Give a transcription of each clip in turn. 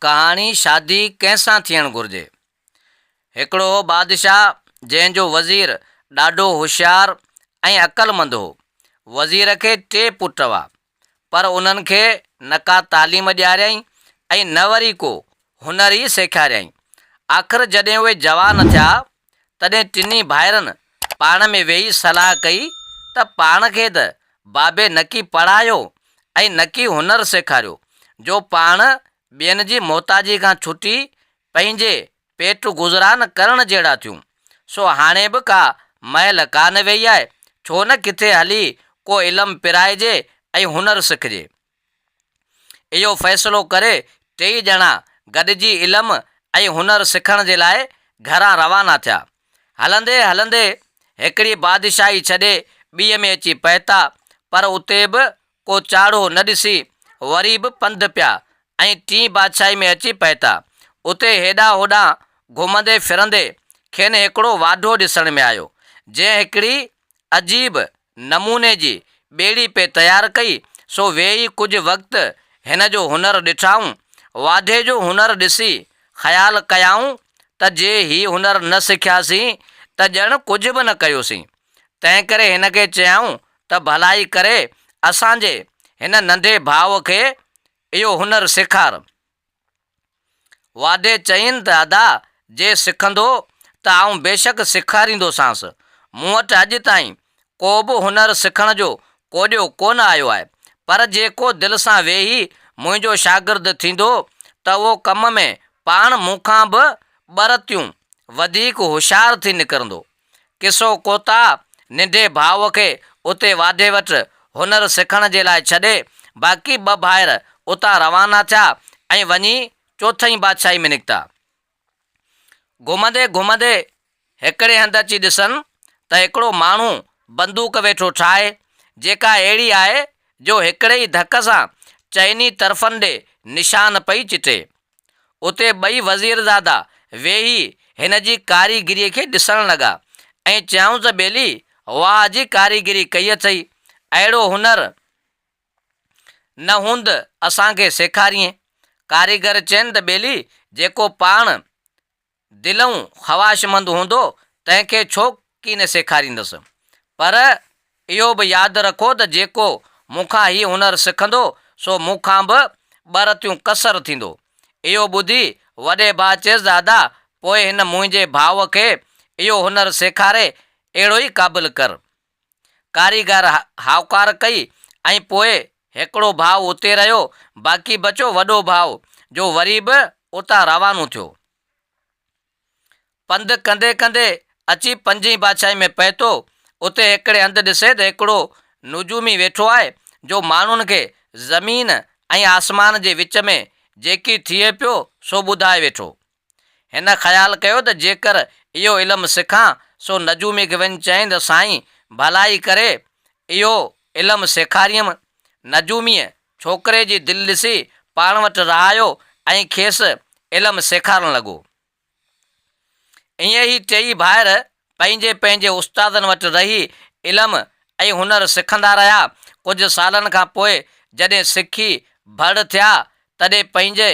ڪهاڻي شادي ڪنهن سان ٿيڻ گهرجي؟ هڪڙو هو بادشاهه جنهن جو وزير ڏاڍو هوشيار ۽ عقلمند هو. وزير کي ٽي پٽ هئا پر انهن کي نه ڪا تعليم ڏياريائين ۽ نه وري ڪو هنر ئي سيکاريائين. آخر جڏهن اهي جوان ٿيا تڏهن ٽنهي ڀائرن پاڻ ۾ ويهي صلاح ڪئي ته پاڻ کي ته بابي نڪي پڙهايو ۽ نڪي هنر سيکاريو جو پاڻ ٻين جي محتاجي کان ڇٽي پنهنجي پيٽ گذران ڪرڻ جهڙا ٿيون. سو هاڻي به ڪا مهل ڪانه ويئي آهي، ڇو نه ڪٿي هلي ڪو علم پرائجي ۽ هنر سکجي. اهو فيصلو ڪري ٽيئي ڄڻا گڏجي علم ۽ هنر سکڻ جي لاء گهران روانا ٿيا. هلندي هلندي هڪڙي بادشاهي ڇڏي ٻيء ۾ اچي پهتا پر اتي به ڪو چاڙهو نه ڏسي وري به پنڌ پيا ۽ ٽين بادشاهي ۾ اچي پهتا. اتي هيڏانهن هوڏانهن گهمندي ڦرندي کين هڪڙو واڍو ڏسڻ ۾ آيو جنهن هڪڙي عجيب نموني جي ٻيڙي پئي تيار ڪئي، سو ويهي ڪجهه وقت هن جو هنر ڏٺائون. واڍي جو هنر ڏسي خيال ڪيائون ته جي هي هنر نه سکياسين ته ڄڻ ڪجهه به نه ڪيوسين. تنهنڪري هن کي چيائون ته ڀلائي ڪري اسان جي هن ننڍي ڀاء کي اهو هنر سيکار. واڌي چيائين ته ادا جي سکندو ته آئون بيشڪ سيکاريندوسانس. مون وٽ اڄ تائين ڪو به هنر سکڻ جو ڪوڏيو ڪونه آيو آهي، پر جيڪو دل سان ويهي منهنجو شاگرد ٿيندو ته اهو ڪم ۾ پاڻ مون کان به ٻه رتيون وڌيڪ هوشيار ٿي نڪرندو. قصو ڪوتا ننڍي ڀاء کي اتي واڍي وٽ هنر سکڻ جي لاء ڇڏي باقي ٻه ڀائر اتان روانا ٿيا ۽ وڃي چوٿئين بادشاهي ۾ نڪتا. گهمندي گهمندي هڪڙي هنڌ اچي ڏسن ته هڪڙو ماڻهو بندوق ويٺو ٺاهي جيڪا اهڙي آهي جو هڪڙي ئي ڌڪ سان چئني طرفن ڏي نشان پئي چٽي. اتي ٻئي وزيرزادا ويهي هن جي ڪاريگريء کي ڏسڻ لڳا ۽ چيائونس ٻيلي، واهه جي ڪاريگري ڪئي اٿئي، اهڙو هنر نه هوند اسان کي سيکاريئين. ڪاريگر چين ته ٻيلي، جيڪو پاڻ. دلئون خواشمند هوندو تنهن کي ڇو ڪين سيکاريندس. پر اهو به ياد رکو ته جيڪو مون کان هي هنر سکندو سو مون کان به ٻه رتيون ڪسر ٿيندو. اهو ٻڌي وڏي ڀاء چيس دادا پوء هن منهنجي ڀاء کي اهو هنر سيکاري اهڙو ئي قابل ڪر. ڪاريگر هائوڪار ڪئي ۽ پوء هڪڙو ڀاء اتي رهيو، باقي بچو وڏو ڀاء، جو وري به اتان روانو ٿيو. پنڌ ڪندي ڪندي اچي پنجين بادشاهي ۾ پهتو. اتي هڪڙي هنڌ ڏسي ته هڪڙو نجومي ويٺو آهي، جو ماڻهن کي زمين ۽ آسمان جي وچ ۾ جيڪي ٿئي پيو، سو ٻڌائي ويٺو. هن خيال ڪيو ته جيڪر اهو علم سکان سو نجومي کي وڃي چيائين ته سائين ڀلائي ڪري اهو علم سيکاريم. نجوميء ڇوڪري جي دل ڏسي پاڻ وٽ رهايو ۽ کيس علم سيکارڻ لڳو. ائين هي ٽيئي ڀائر پنهنجي پنهنجي استادن وٽ رهي علم ۽ هنر سکندا رهيا. ڪجهه سالن کان پوء جڏهن سکي ڀڙ ٿيا تڏهن پنهنجي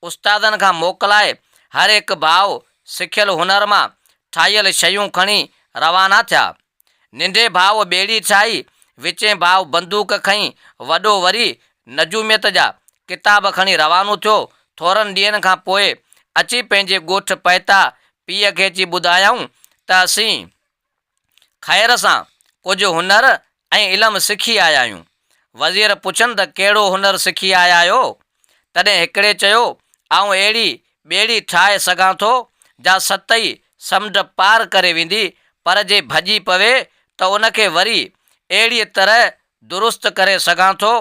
استادن کان موڪلائي هر هڪ ڀاء سکيل هنر مان ٺاهيل شيون کڻي روانا ٿيا. ننڍي ڀاء ٻيڙي ٺاهي، وچين ڀاء بندوق کنئي، وڏو وري نجوميت جا ڪتاب کڻي روانو ٿيو. ٿورن ڏينهن کان پوء اچي پنهنجي ڳوٺ پهتا پيء کي اچي ٻڌايائون ته اسين خير سان ڪجهه هنر ۽ علم سکي آيا آهيون. وزير پڇن ته ڪهڙو هنر سکي آيا آهيو؟ تڏهن هڪڙي چيو، آئون اهڙي ٻيڙي ٺاهي سگهان ٿو، جا ست ئي سمنڊ پار ڪري ويندي، پر جي ڀڄي پوي ته ان کي وري اهڙيء طرح درست ڪري سگهان ٿو،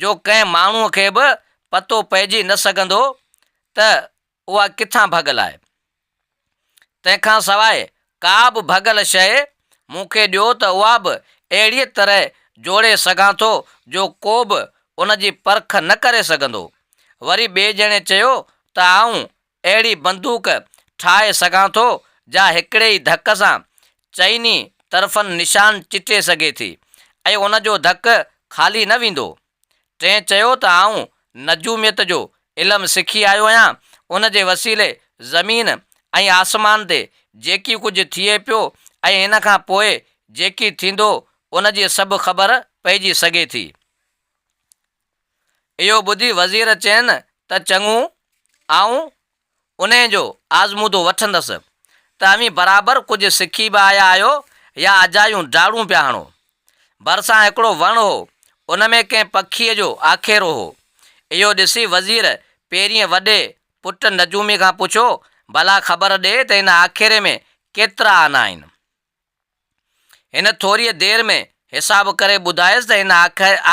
جو ڪنهن ماڻهوء کي به پتو پئجي نه سگهندو ته اها ڪٿان ڀڳل آهي؟ تنهن کان سواء ڪا به ڀڳل شيء مون کي ڏيو ته اها به اهڙيء طرح جوڙي سگهان ٿو جو ڪو به ان جي پرک نه ڪري سگهندو. وري ٻئي ڄڻي چيو ته آئون اهڙي بندوق ٺاهي سگهان ٿو جا هڪڙي ئي ڌڪ سان چئني طرفن نشان چٽي سگهي ٿي ۽ ان جو ڌڪ خالي نه ويندو. ٽئين چيو ته آئون نجوميت جو علم سکي آيو آهيان، ان جي وسيلي زمين ۽ آسمان تي جيڪي ڪجهه ٿئي پيو ۽ ان کان پوء جيڪي ٿيندو ان جي سڀ خبر پئجي سگهي ٿي. اهو ٻڌي وزير چين ته چڱو آئون انهيء جو آزمودو وٺندس ته اوهين برابر ڪجهه سکي به آيا آهيو يا اجايون ڊاڙون پيا هڻو. ڀرسان هڪڙو وڻ هو، ان ۾ ڪنهن پکيء جو آکيرو هو. اهو ڏسي وزير پيرينء وڏي پٽ نجومي کان پڇيو، ڀلا خبر ڏي ته هن آکيري ۾ ڪيترا آنا آهن؟ هن ٿوريء دير ۾ حساب ڪري ٻڌايس ته هن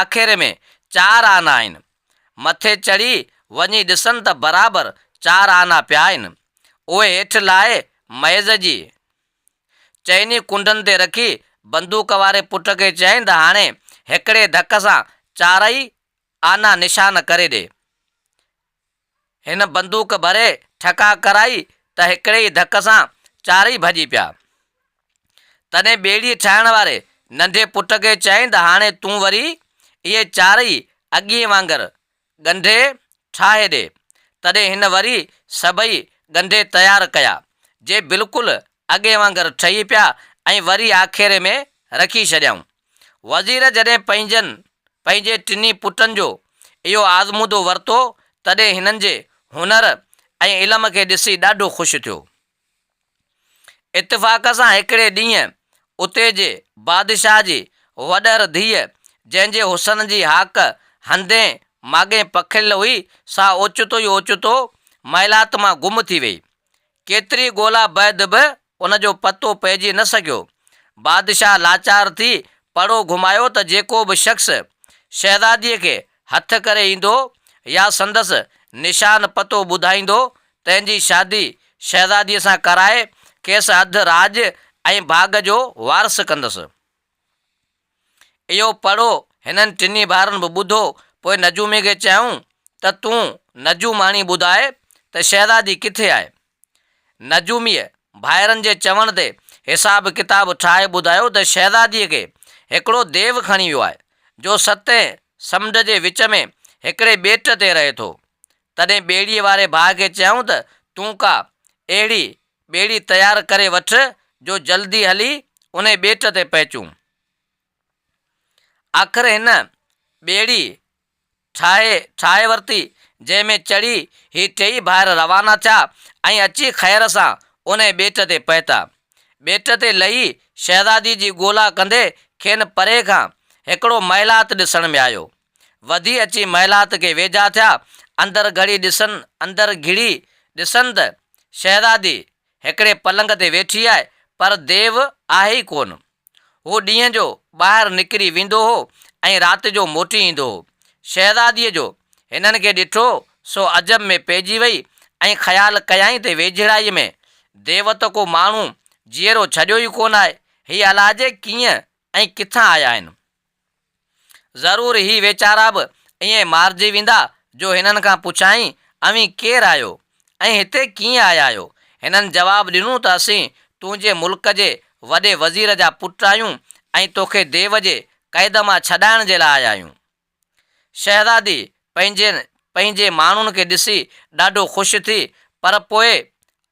آکيري ۾ چار آنا آهن. مٿي چڙهي وڃي ڏسن ته برابر چار آنا پيا آهن. اهي هيٺ لاهي ميز جي چئني ڪنڊن تي رکي بندوق واري پٽ کي چيائين ته هاڻي هڪڙي ڌڪ سان چارئي آنا نشان ڪري ڏي. هن بندوق ڀري ٺڪاء ڪرائي ته هڪڙي ئي ڌڪ سان چارئي ڀڄي پيا. تڏهن ٻيڙي ٺاهڻ واري ننڍي پٽ کي چيائين ته هاڻي تون وري اهي چارئي اڳيئي وانگر ڳنڍي ٺاهي ڏي. تڏهن هن وري سڀئي ڳنڍي تيار ڪيا، جي بلڪل اڳي وانگر ٺهي پيا ۽ وري آکيري ۾ رکي ڇڏيائون. وزير جڏهن پنهنجن پنهنجي ٽنهي پٽن جو اهو آزمودو ورتو تڏهن هنن جي هنر ۽ علم کي ڏسي ڏاڍو خوش ٿيو. اتفاق سان هڪڙي ڏينهن اتي جي بادشاهه جي وڏهر ڌيء جنهن جي حسن جي هاڪ هنڌين ماڳهين پکڙيل هئي سا اوچتو ئي اوچتو محلات مان گم ٿي ويئي. ڪيتري ڳولا بعد به ان جو پتو پئجي نه سگهيو. بادشاهه لاچار ٿي پڙو گهمايو ته جيڪو به شخص شهزاديء کي هٿ ڪري ايندو يا سندس نشان پتو ٻڌائيندو، تنهن جي شادي شهزاديء سان ڪرائي کيس اڌ راڄ ۽ ڀاڳ جو وارث ڪندس. اهو پڙهو هنن ٽنهي ڀائرن به ٻڌو. پوء نجوميء کي چيائون ته تون نجوماڻي ٻڌاء ته شهزادي ڪٿي آهي؟ نجوميء ڀائرن جي چوڻ تي حساب ڪتاب ٺاهي ٻڌايو ته شهزاديء کي هڪڙو ديو کڻي ويو آهي، جو ستين سمنڊ جي وچ ۾ هڪڙي ٻيٽ تي رهي ٿو. تڏهن ٻيڙيء واري ڀاء کي چيائون ته تون ڪا اهڙي ٻيڙي تيار ڪري وٺ جو جلدي هلي انهي ٻيٽ تي پهچون. آخر هن ٻيڙي ٺاهي ٺاهي ورتي جنهن ۾ چڙهي هي ٽيئي ڀائر روانا ٿيا ۽ اچي خير سان انهي ٻيٽ تي پهتا. ٻيٽ تي لهي شهزادي جي ڳولا ڪندي کين پري کان هڪڙو محلات ڏسڻ ۾ آيو. وڌي اچي محلات کي ويجها ٿيا. اندر گهڙي ڏسن اندر گهڙي ڏسن ته شهزادي هڪڙي پلنگ تي ويٺي آهي پر ديو آهي ئي ڪونه. هو ڏينهن جو ٻاهر نڪري ويندو هو ۽ رات جو موٽي ايندو هو. شهزاديء جو هنن کي ڏٺو سو عجب ۾ پئجي وئي ۽ خيال ڪيائين ته ويجهڙائيء ۾ ديو ته ڪو ماڻهو جيئرو ڇڏيو ئي ڪونه آهي. هي الاجي ڪيئن ۽ ڪٿان آيا آهن. ضرور هي ويچارا به ائين مارجي ويندا جو هنن کان پڇائين اوهين ڪير آهيو ۽ هتي ڪيئن آيا آهيو؟ هنن جواب ڏنو ته اسين تنهنجي ملڪ جي وڏي وزير جا پٽ آهيون ۽ توکي ديو جي قيد مان ڇڏائڻ جي لاء آيا آهيون. شهزادي پنهنجي پنهنجي ماڻهن کي ڏسي ڏاڍو خوش ٿي پر پوء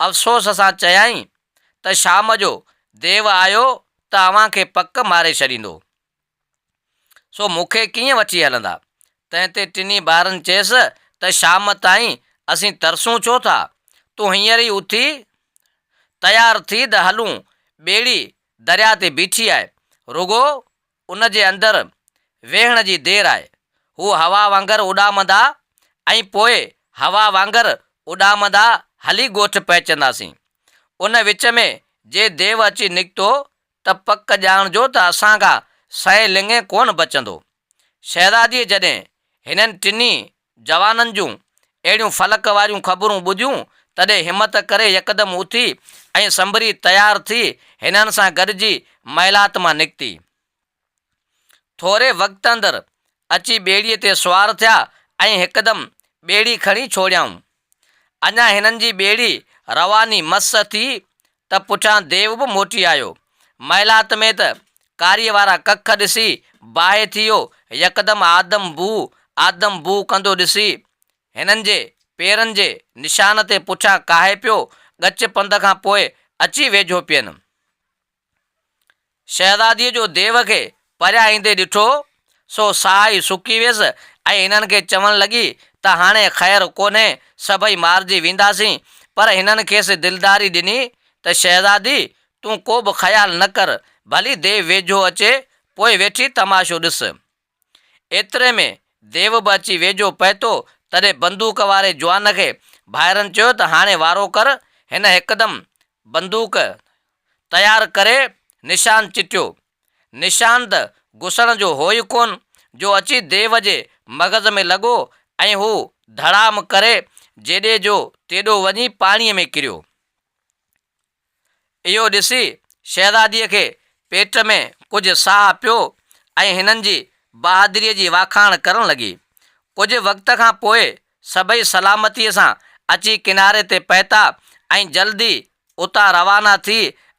افسوس سان چيائين ته شام جو ديو آيو ته اوهان کي پڪ ماري ڇڏيندو، سو مون کي ڪيئن وٺي هلندا؟ تنهن تي ٽنهي ٻارن چيس ته شام تائين اسين ترسون ڇو ٿا؟ تون هينئر ئي اٿي تيار ٿي ته هلون، ٻيڙي درياء تي بيٺي آهي، رڳو ان جي اندر ويهڻ جي دير آهي، هو هوا وانگر اڏامندا ۽ پوء هوا وانگر اڏامندا هلي ڳوٺ پهچنداسين، ان وچ ۾ جي ديو اچي نڪتو ته پڪ ڄاڻجو ته اسان کان سئي لڱين ڪونه بچندو. شهزاديء جڏهن هنن ٽنهي جوانن جون اهڙيون فلڪ واريون خبرون ٻڌيون تڏهن همت ڪري يڪدم اٿي ۽ سنڀري تيار ٿي هنن سان گڏجي محلات مان نڪتي. ٿوري وقت اندر اچي ٻيڙيء تي سوار ٿيا ۽ هڪدم ٻيڙي کڻي ڇوڙيائون. اڃا هنن جي ٻيڙي رواني مس ٿي ته پٺيان ديو به موٽي آيو. محلات ۾ ته ڪاريء وارا ڪک ڏسي باهه ٿي ويو. يڪدم آدم بوء آدم بوء ڪندو ڏسي هنن جي پيرن جي نشان تي پٺيان ڪاهي پيو. ڳچ پنڌ کان پوء اچي ويجهو پين. شهزاديء جو ديو کي پريان ايندي ڏٺو، سو ساهه ئي سڪي ويس ۽ هنن کي چوڻ لڳي ته هاڻي خير ڪونهي، سڀئي مارجي وينداسين. پر هنن کيس دلداري ڏني ته شهزادي، تون ڪوبه خيال نه ڪر، ڀلي ديو ويجهو اچي، پوء ويٺي تماشو ڏس. ايتري ۾ ديو به اچي ويجهو پهتو، تڏهن بندوق واري جوان کي ڀائرن چيو ته هاڻي وارو ڪر، هن هڪدم بندوق تيار ڪري نشان چٽيو، نشان ته گسڻ جو هو ئي ڪونه، جو اچي ديو جي مغز ۾ لڳو ۽ هو ڌڙام ڪري جيڏي جو تيڏو وڃي پاڻيء ۾ ڪريو. اهو ڏسي شهزاديء کي پيٽ ۾ ڪجهه ساهه پيو ۽ هنن جي بهادريء جي واکاڻ ڪرڻ لڳي. ڪجهه وقت کان پوء سڀئي سلامتيء سان اچي ڪناري تي پهتا ۽ جلد ئي اتان روانا ٿي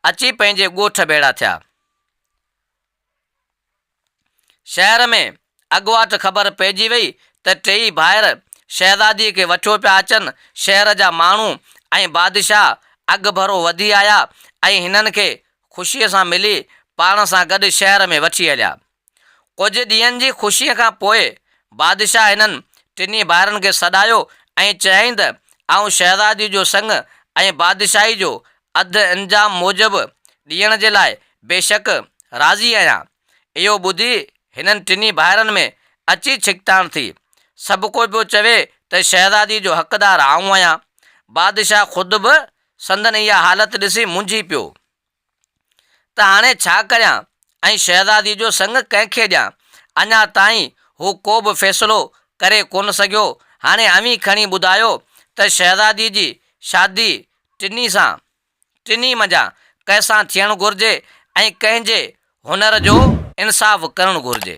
اچي پنهنجي ڳوٺ ڀيڙا ٿيا. شهر ۾ اڳواٽ خبر پئجي وئي ته ٽيئي ڀائر شهزاديء کي وٺيو پيا اچن. شهر جا ماڻهو ۽ بادشاهه اڳڀرو وڌي آيا ۽ هنن کي خوشيء سان ملي پاڻ سان گڏ شهر ۾ وٺي هليا. ڪجهه ڏينهن جي خوشيء کان پوء بادشاهه هنن ٽنهي ڀائرن کي سڏايو ۽ چيائين ته آئون شهزاديء جو سڱ ۽ بادشاهي جو اڌ انجام موجب ڏيڻ جي لاء بيشڪ راضي آهيان. اهو ٻڌي هنن ٽنهي ڀائرن ۾ اچي ڇڪتاڻ ٿي. سڀ ڪو پيو چوي ته شهزادي جو حقدار آئون آهيان. بادشاهه خود به سندن اها حالت ڏسي منجهي پيو ته هاڻي ڇا ڪريان ۽ شهزادي جو سڱ ڪنهن کي ڏيان. اڃا تائين هو ڪو به فيصلو ڪري ڪونه سگهيو. هاڻي اوهين کڻي ٻڌايو ته شهزادي جي شادي ٽنهي سان ٽنهي منجهان ڪنهن سان ٿيڻ گهرجي ۽ ڪنهن جي هنر جو انصاف ڪرڻ گهرجي.